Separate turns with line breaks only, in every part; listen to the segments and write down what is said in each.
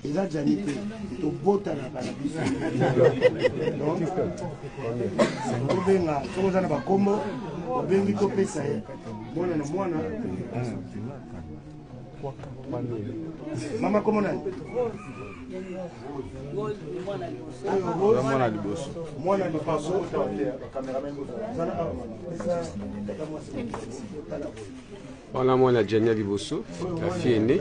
eza jani te tobotanaka na biso tobenga soki oza na bakombo obengi topesa ye mwana na mwana mama kombo nani mwana liboso mwana liboso
wana mwana jania liboso la fille aînée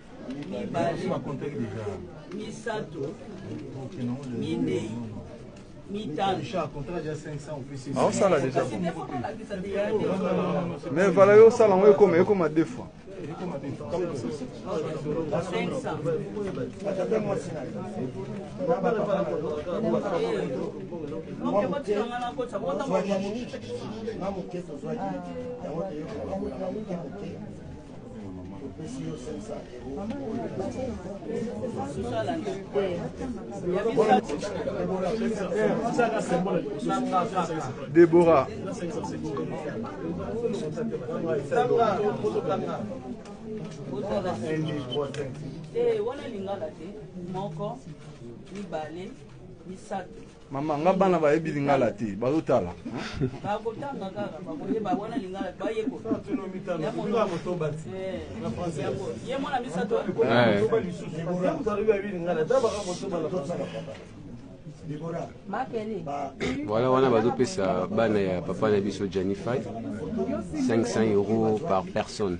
mibale misato minei
aosala deja mais vala yo osala yango ekoma ekoma deux fois Deborah. Eh, wana lingala te moko mibale misato Mama, nga bana bayebi lingala te, bazotala.
Bakotanga kaka, bakoyeba wana lingala bayekola. Ye
mwana misato. Voilà, wana bazopesa bana ya papa na biso Janify 500 euros par personne.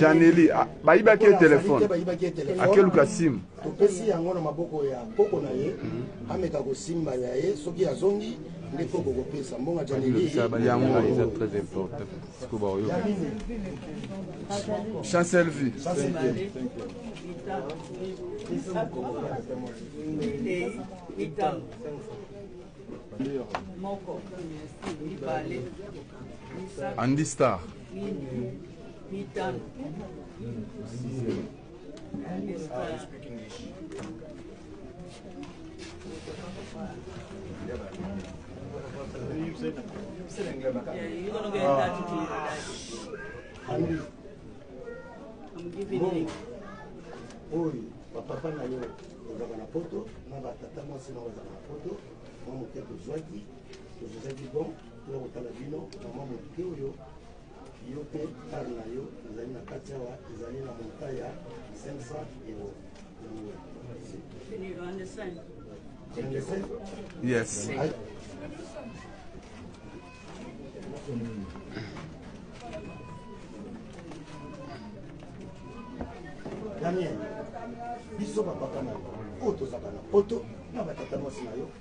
janeli ah, bayibaki ye telefone akeluka simu topesi yango na
maboko ya koko na ye mhm. ameka kosimba ya ye soki azongi nde koko kopesa mbonga janeliyango eza
très important siko baoyo
chancel vie moko mibale Andy Star.
oyo bapapa na yo ozalaka na poto na batata mwasi na ozalaka na poto mwa moke tozwaki tozozaki bon Toza kotala bino mama moke oyo yo mpe kare na yo ezali na kati awa ezali na monta ya 500 euro Yes.
Daniel,
biso bapapa na yo oyo tozaka na poto na batata mwasi na yo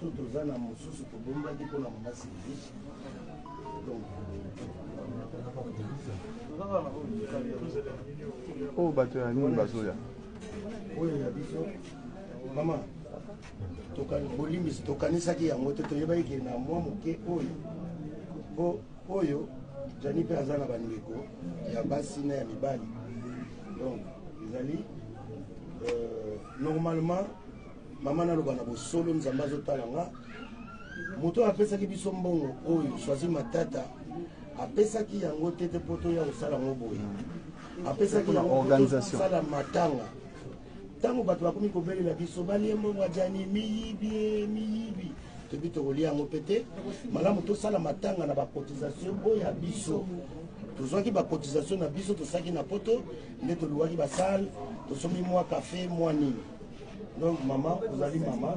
To toza na mosusu tobombaki mpo na mama Sylvie. Donc
oyo bato ya nini bazoya oyo
ya biso mama bolimbisi tokanisaki yango te toyebaki ke na mwa moke oyo po oyo jani mpe aza na bandeko ya basi na ya mibali donc ezali euh, normalement Mama naloba na bosolo Nzambe azotala nga moto oyo apesaki biso mbongo oyo Choisy Matata apesaki yango te te mpo toya kosala yango boye apesaki yango kosala matanga ntango bato bakomi kobelela biso balie mbongo ya jani miyibi miyibi toyebi tokolia yango mpe te malamu tosala matanga na bakotisation oyo ya biso tozwaki bakotisation na biso tosaki na poto nde toluwaki basale tosombi mwa cafe mwa nini donc mama ozali mama